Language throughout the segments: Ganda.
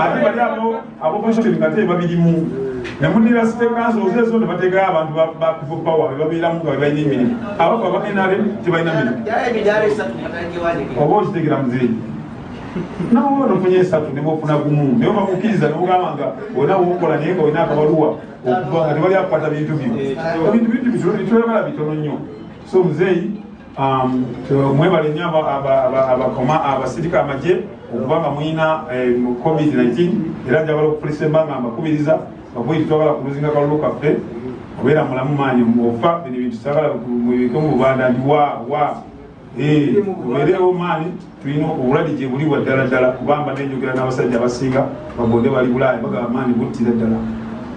ate bali abo abopposition nga te babirimu nemudira site kanso ozezo ne bategayo abantu ba people power be babeeramu nga bebalina emirimu abako aba nrm tebalina mirimu oba okitegera muzeeyi nawe ono ofunye esatu nebwofuna gumu naye obakukkiriza nogamba nga olina wokola naye nga olina akabaluwa okuva nga tebali akukwata bintu byo ebintu bintu bitwebala bitono nnyo so muzeeyi Um, mwebale nyo abakoma abasirika amagye okuba nga mulina eh, covid-19 era njagala okufulisa embanga mbakubiriza bakubi twagala kuluzinga kalulu kaffe obeera mulamu maanyi ofa bino bintu sagala mubike mu bubanda nti wa wa tubeerewo eh, maanyi tulina obulwadde gye buli bwa ddala ddala kubamba nenjogera n'abasajja abasinga bagonde bali bulaaya bagaba maanyi buttira ddala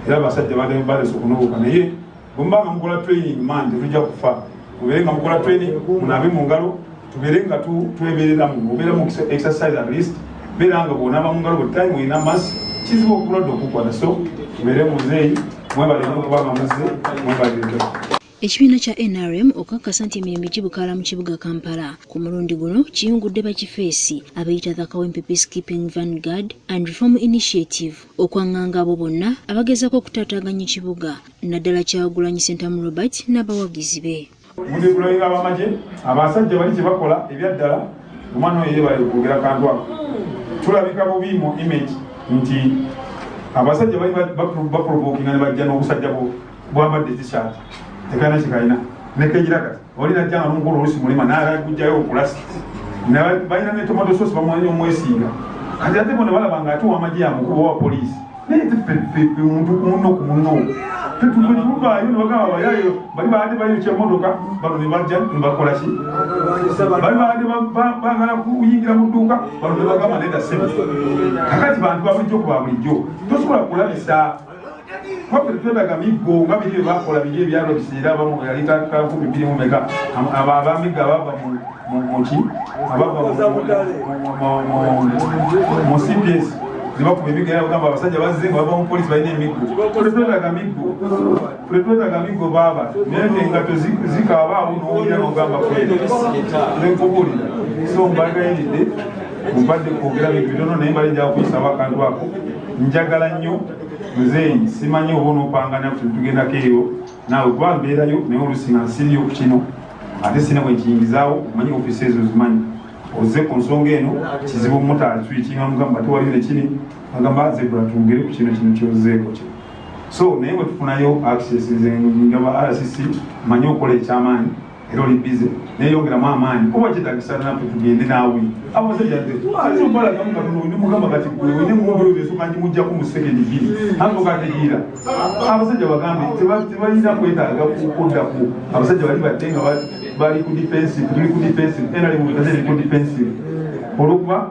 era abasajja balesa okunoboka naye bwemuba nga mukola training man tetujja kufa mubeere nga mukola training munaabe mu ngalo tubeere nga twebereramu obeera mu exercise at least beera nga bwonaaba mu ngalo buli time olina mas kizibu okulwadde okukwata so tubeere muzeeyi mwebalire okuba nga muze mwebalireko ekibiina kya nrm okukakasa nti emirembe gibukaala mu kibuga kampala ku mulundi guno kiyungudde bakifeesi abeyita the kawempe peacekeeping vanguard and reform initiative okwanganga abo bonna abagezaako okutaataaganya ekibuga naddala Kyagulanyi Ssentamu Robert n'abawagizi be. Muli kulabika abamagye abasajja bali kyebakola ebyaddala omwana oyo yebale kwogera kantu ako tulabika bubi mu image nti abasajja bali baprovokinga nebajja nobusajja bwambadde t-shirt tekalina kyekalina nekejira kati oli najja nga nomukolo olusi mulema nayagala kujjayo okulasi balina netomato sosi bamwanya omwesinga kati ate bona balaba nga ate wamaje yamukuba wa poliisi naye tefefefe omuntu kuno kuno fetufetuvaayo nebagamba bayayo bali baade bayokya motoka bano nebajja nebakola ki bali baade bagala kuyingira mu dduuka bano nebagamba neda sebe kakati bantu babulijjo ku babulijjo tosobola kulabisa Covid twetaga miggo nga biri byebakola biri ebyalo biseera abamu yali tandika nkumi biri mu meka abo abamigga abava muki abava mu cps nebakuba emiggo era bagamba abasajja bazze nga bava mu polisi balina emiggo twetaga miggo twetaga miggo baaba naye te engato zikaaba awo nowulira nogamba kwekubulira so mbagayiridde mubadde kwogera bintu bitono naye mbali njakuyisaba akantu ako njagala nnyo muzeeyi simanyi oba onopanga naffe tugendako eyo naawe kuba mbeerayo naye olusi nga nsiriyo ku kino ate sina bwe nkiyingizaawo omanyi ofisi ezo zimanyi ozze ku nsonga eno kizibu omumotari tuyikinga mugamba tewaliyo nekini agamba zebula twogere ku kino kino kyozzeeko kino so naye bwe tufunayo access nze ngaba rcc manyi okola ekyamaanyi era oli bize naye yongeramu amaanyi kuba kyetagisa nafe tugende naawe abasajaeaobalagamukatondaolimugamba kati gwenemuoesukanjimujjaku musekendi giri antokategiira abasajja bagambe tebalina kwetaaga kukuddako abasajja bali batte nga bali ku defensive tuli ku defensive era limukazeri ku defensive olwokuba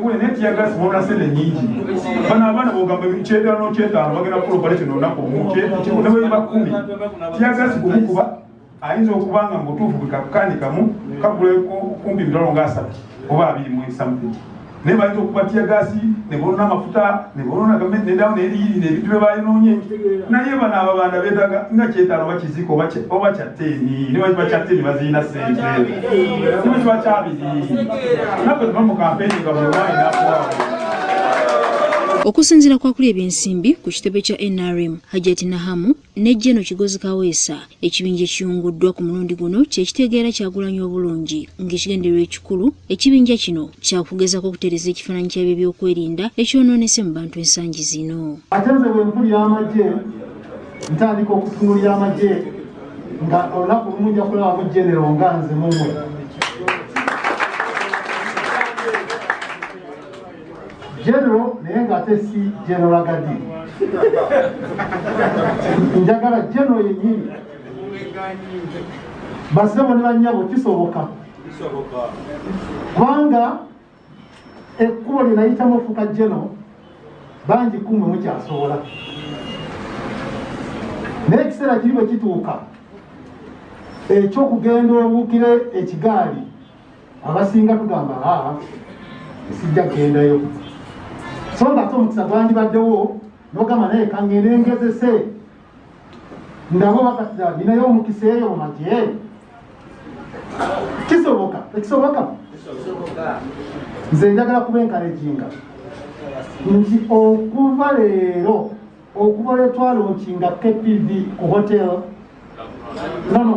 Gule ne tiyagasi bona sene nyingi. Bana abana bogamba ebikyenda no kyenda bagera kulo bale kino nako muke ne bwe bakumi. Tiyagasi kumukuba ayinza okubanga mutufu bikakani kamu kagule ko kumbi ndolo ngasa oba abiri mu something. Ne bayito kuba tiyagasi ne bona mafuta ne bona gamme ne dawo ne yiri ne bitwe bayinonye. Na yeba na ababanda bedaga nga kyetalo bakiziko bache obacha. okusinzira kwakuli ebyensimbi ku kitebe kya nrm hajati nahamu ne jeno kigozi kaweesa ekibinja ekiyunguddwa ku mulundi guno kyekitegeera kyagulanyi obulungi ng'ekigenderwa ekikulu ekibinja kino kyakugezako okutereza ekifaananyi kyabyo ebyokwerinda ekyonoonese mu bantu ensangi zino ntandika okutunulira amagye nga olunaku lumu nja kulaba mu genero nga nze mumwe genero naye nga ate si genero agadi njagala genero yenyini basebo ne banyabo kisoboka kubanga ekkubo lye nayitamu ofuuka jeno bangi kumwe mukyasobola naye ekiseera kiri bwe kituuka ekyokugenda obukire ekigaali abasinga tugamba aa sijja kugendayo so nga ate omukisa gwandibaddewo nogamba naye kangende ngezese ndaba obakatira ninayo omukisa eyo mu magye kisoboka ekisoboka nze njagala kuba enkalejinga nti okuva leero okuva lwetwala okinga kpv ku hotel nono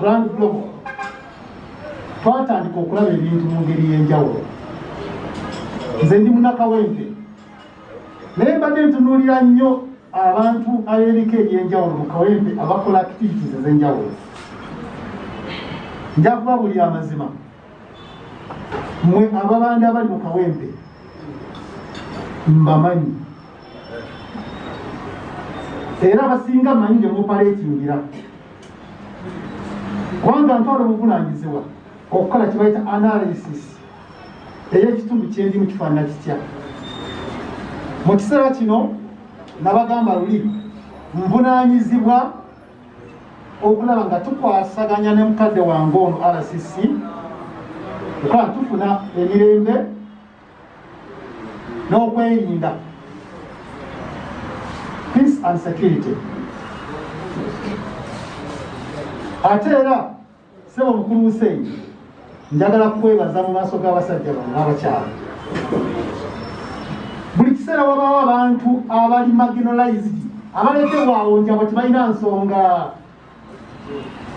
grand global twatandika okulaba ebintu mu ngeri y'enjawulo nze ndi munakawempe naye mbadde ntunuulira nnyo abantu ab'ebika eby'enjawulo mu kawempe abakola activities ez'enjawulo nja kuba buli amazima mwe ababanda abali mu kawempe mbamanyi era abasinga manyi gye mupaleetingira kubanga ntwala obuvunanyizibwa okukola kibayita analysis era ekitundu kyendimu kifaanana kitya mu kiseera kino nabagamba luli nvunanyizibwa okulaba nga tukwasaganya ne mukadde wange ono rcc okuba tufuna emirembe n'okwerinda peace and security ate era Ssebo Mukulu Hussein, njagala kukwebaza mu maaso g'abasajja bano n'abakyala. Buli kiseera wabaawo abantu abali marginalized abaleetebwa awo nti abo tebalina nsonga,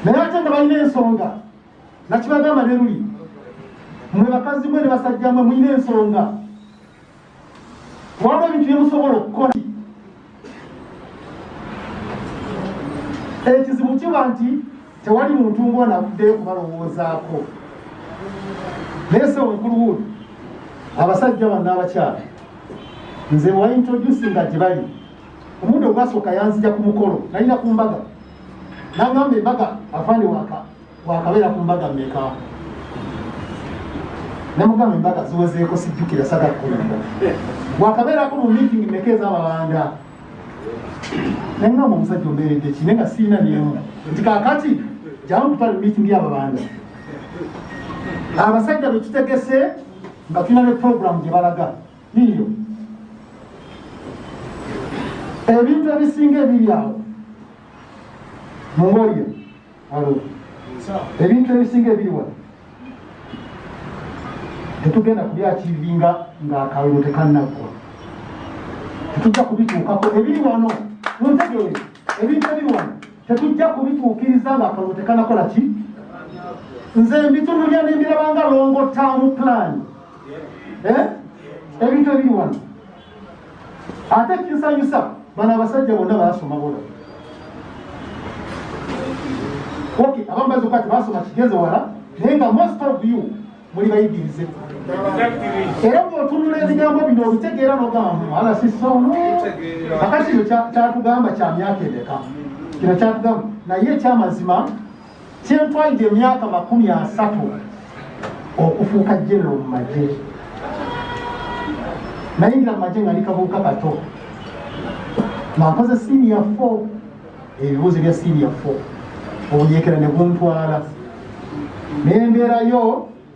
naye ate nga balina ensonga. Nakibagamba ne luli, mwe bakazi mwe ne basajja mwe mulina ensonga. waba ebintu byemusobola okukola ekizibu kiba nti tewali muntu ngona avuddeyo kubalowoozaako naye se omukulu wuuno abasajja banna abakyala nze bwaintrodusi nga gyebali omuntu ogwasooka yanzija ku mukolo nalina ku mbaga nagamba embaga afande waka wakabeera ku mbaga meka nemugamba embaga ziwezeeko sijjukira saga kukulamba wakabeerako mu meeting meka ezababanda nengamba omusajja ombeeredde ki naye nga siina nemu nti kakati jamu kutwala meeting yababanda abasajja betutegese nga tulina ne programu gye balaga yiyo ebintu ebisinga ebiri awo mungolyo ebintu ebisinga ebiri wano tetugenda kubyakiivinga ng'akalulu tekannaggwa tetujja kubituukako ebiri wano muntegeere ebintu ebiri wano tetujja kubituukiriza ng'akalulu tekanakola ki nze mbitunulya nembirabanga longo taamu pulaani eh? ebintu ebiri wano ate kinsanyusa bano abasajja bonna basoma bona ok abamu bazi okuba tebasoma kigeze wala naye nga most of you muli bayigirize era bwotunula ebigambo bino obitegeera nogambo ala sisono kakati kino kyatugamba kya myaka emeka kino kyatugamba naye ekyamazima Kyentwalidde emyaka makumi asatu okufuuka genero mu magye. Nayingira mu magye nga ndi kabuuka kato nga nkoze siniya fo ebibuuzo bya siniya fo obuyeekera ne buntwala ne mbeerayo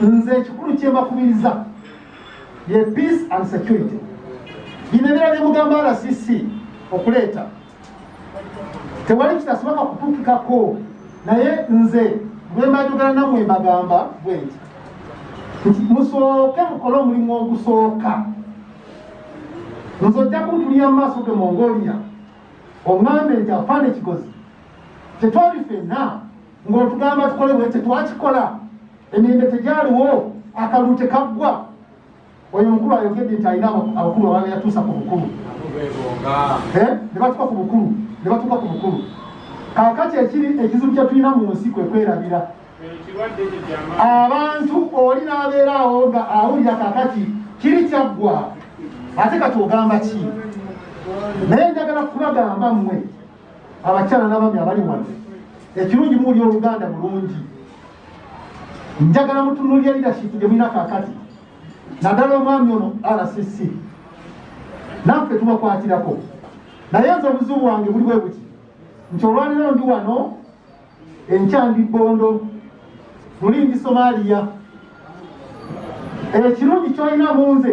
nze ekikulu kyembakubiriza ye peace and security bino ebira byemugamba rcc okuleeta tewali kitasoboka kutukikako naye nze bwembajogera namwe mbagamba bwenti nti musooke mukole omulimu ogusooka nze ojja kuntulira mu maaso ge mongolia oŋambe nti afaana ekigozi tetwali fenna ng'otugamba tukole bwe tetwakikola emirembe tegyaliwo akalulu tekaggwa oyo omukulu ayogedde nti alina abakulu abaa yatuusa ku bukulu eh? ne batuka ku bukulu ne batuka ku bukulu kakati ekiri ekizibu kye tulina mu nsi kwe kwerabira abantu oli n'abeera awo nga awulira kakati kiri kyaggwa ate kati ogamba ki naye njagala kubagamba mmwe abakyala n'abami abali wano ekirungi muwuli oluganda bulungi njagala mutunulira lidashipu gye mulina kakati naddala omwami ono rcc naffe tubakwatirako naye nze obuzibu bwange buli bwe buti nti olwaliro ndi wano enkyandi bondo luli ndi somaliya ekirungi kyolina mu nze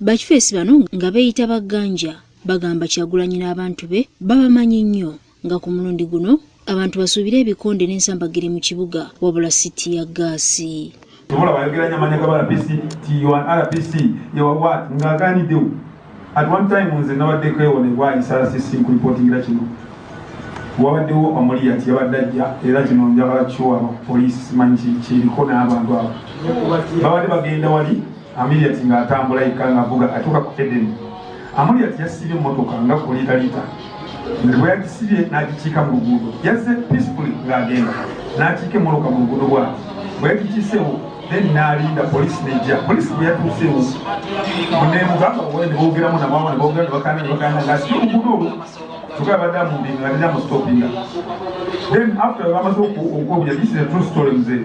Bakifeesi bano nga beeyita ba Ganja bagamba Kyagulanyi n'abantu be babamanyi nnyo nga ku mulundi guno abantu basuubire ebikonde n'ensambagire mu kibuga wabula si ttiyaggaasi. Tomulaba ayogera nyo amanya gaba RPC nti you are an RPC you are what nga aganidewo at one time nze nabaddeko ewo nebwa isala CC nkulipotingira kino wabadewo omuli yati yabadde ajja era kino njagala kiwa police manyi kiriko n'abantu abo babadde bagenda wali Amuriat ng'atambula yekka ng'avuga atuuka ku Edeni. Amuriat yasibye mmotoka nga ku liita liita nti bwe yagisibye n'agikiika mu luguudo. Yazze peacefully ng'agenda n'akiika emmoloka mu luguudo bw'ati bwe yagikiiseewo then n'alinda poliisi n'ejja. Poliisi bwe yatuuseewo neemugamba owe ne boogeramu na maama ne boogera ne bakaana ne bakaana ng'asibye oluguudo olwo kyokka yabadde amumbinga nga teri amustopinga then after bamaze okukobuya this is a true story mzee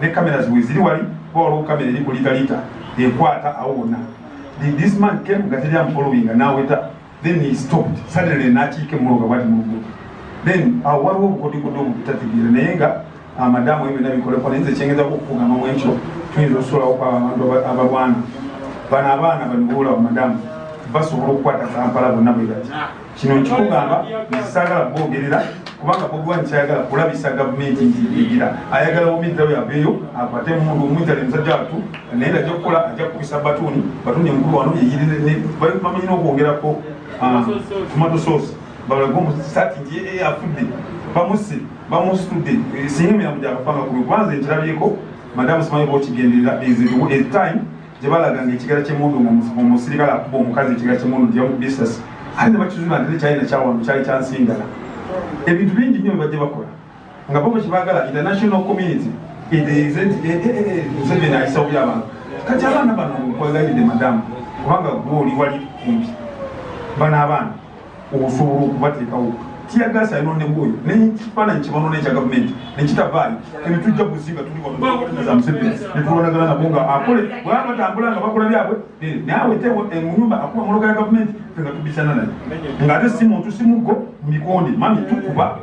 ne cameras weziri wali kuba waliwo camera eri kulitalita ekwata awo wonna then this man came nga teri amufollowinga naweta then he stopped suddenly nakiika emuloga bwati mungu then awo waliwo obukodikodo obutategeera naye nga amadamu ah, ebyo byonna bikoleko naye nze kyengeza kukugamba mu ekyo tuyinza okusulawo kwaba abantu abalwana bano abaana banibuula bamadamu basobola okukwata kampala bonna bwe bati Kino nkikugamba saagala kwogerera kubanga bobi wine kyayagala kulabisa gavumenti nti yigira ayagala omiddawo yaveeyo akwate mundu omwitale musajja watu naye ajja kukola ajja kukubisa batuuni batuuni omukulu wano yeyirirbamanyi n'okwogerako ah, tomato sauce balage omusati nti yeye eh, afudde bamusse bamusitudde eh, singa emirambo gyakafanga kubi kubanza ekirabyeko madamu simanyi bokigenderera eziriwo etime gye balaga ng'ekigera ky'emmundu ng'omusirikale akuba omukazi ekigera ky'emmundu nti yamukuba essasi ate ne bakizuula nti tekyalina kyawano kyali kya nsingala ebintu bingi nnyo bibajja bakola nga bobo kye baagala international community museveni ayisawuli abantu kati abaana bano nkwagalidde madamu kubanga gwe oli wali kumpi bano abaana okusobola okubateekawo tiyagaasi ayononebwa oyo nekifaananyi kyebanona ekya gavumenti nekitavaayo ebitujja buziga tuliwanetulwanagana nabo nga akole bwaba batambula nga bakola byabwe naawe tewo eh, munyumba akuba moloka ya gavumenti fe nga tubisana naye nga ate si muntu si muggo mikonde mami tukuba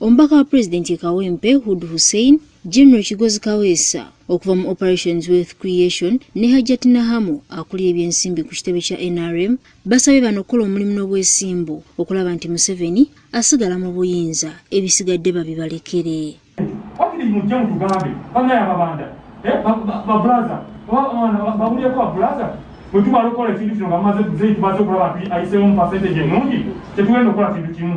Omubaka wa Pulezidenti e Kawempe, Hud Hussein, General Kigozi Kaweesa okuva mu Operations Wealth Creation ne Hajjati Nahamu akulira ebyensimbi ku kitebe kya nrm basabye bano okukola omulimu n'obwesimbu okulaba nti Museveni asigala mu buyinza ebisigadde babibalekere. Wakiri mujje mutugambe banaye ababanda eh, babulaza babulireko babulaza bwetumala okukola ekintu kino nga mumaze tumaze okulaba nti ayiseemu mu percentage enungi tetugenda okukola kintu kimu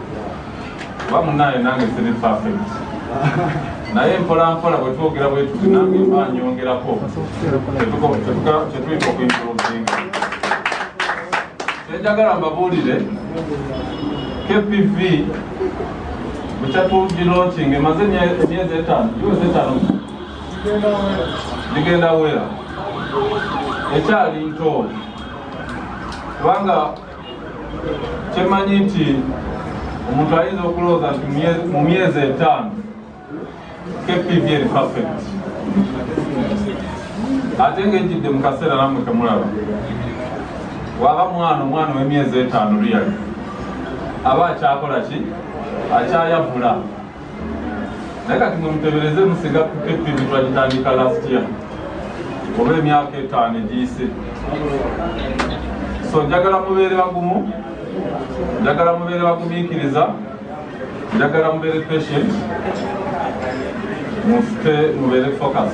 oba munaye nange siri perfect naye mpola mpola bwetwogera bwetuti nange mba nyongerako kyetuyita okuintrovinga kyenjagala mbabuulire kpv bukyatugilokinga emaze emyezi etaano iwezi etaano ligenda wera ekyali ntooli kubanga Kyemanyi nti omuntu ayinza okulowooza nti mu myezi etaano KPV eri perfect ate ng'ejjidde mu kaseera namwe kemulaba waba mwana omwana ow'emyezi etaano luyali aba akyakola ki akyayavula naye kati mwe mutebereze musinga kukettivi twagitandika last year oba emyaka etaano egiyise so njagala mubeere bagumu njagala mubeere bagumiikiriza njagala mubeere patient mufite mubeere focus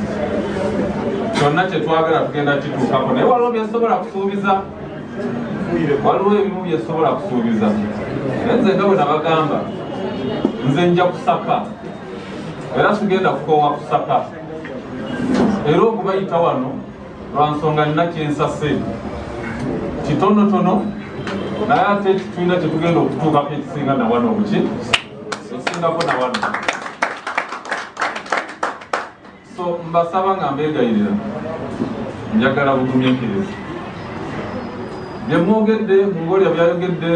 kyonna kyetwagala tugenda kituukako naye waliwo byesobola kusuubiza waliwo ebimu byesobola kusuubiza naye nze nga bwe nabagamba nze nja kusaka era sigenda kukoowa kusaka era okubayita wano lwa nsonga nina kyensase kitonotono naye ate tulina kyetugenda okutuukako ekisinga nawano obuki esingako nawano so mbasaba nga mbegayirira njagala bugumiikiriza byemwogedde mungolya byayogedde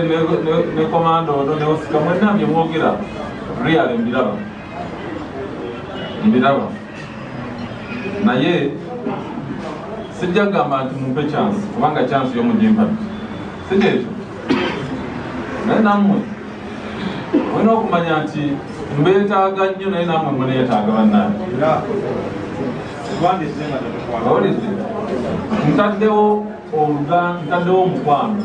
ne komanda ono neosika mwena byemwogera real mbiraba mbiraba naye sijja kugamba nti mumpe chance kubanga chance yomujimpa sikyekyo naye namwe olina okumanya nti mbeetaaga nnyo naye namwe muneetaaga bannange owulidde ntaddewo oluga ntaddewo omukwano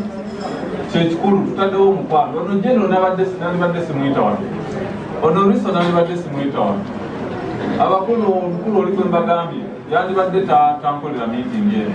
kyekikulu tutaddewo omukwano ono jeno nalibadde simuyita wano ono riso nalibadde simuyita wano abakulu omukulu oli gwe mbagambye yandibadde tankolera miitingi eno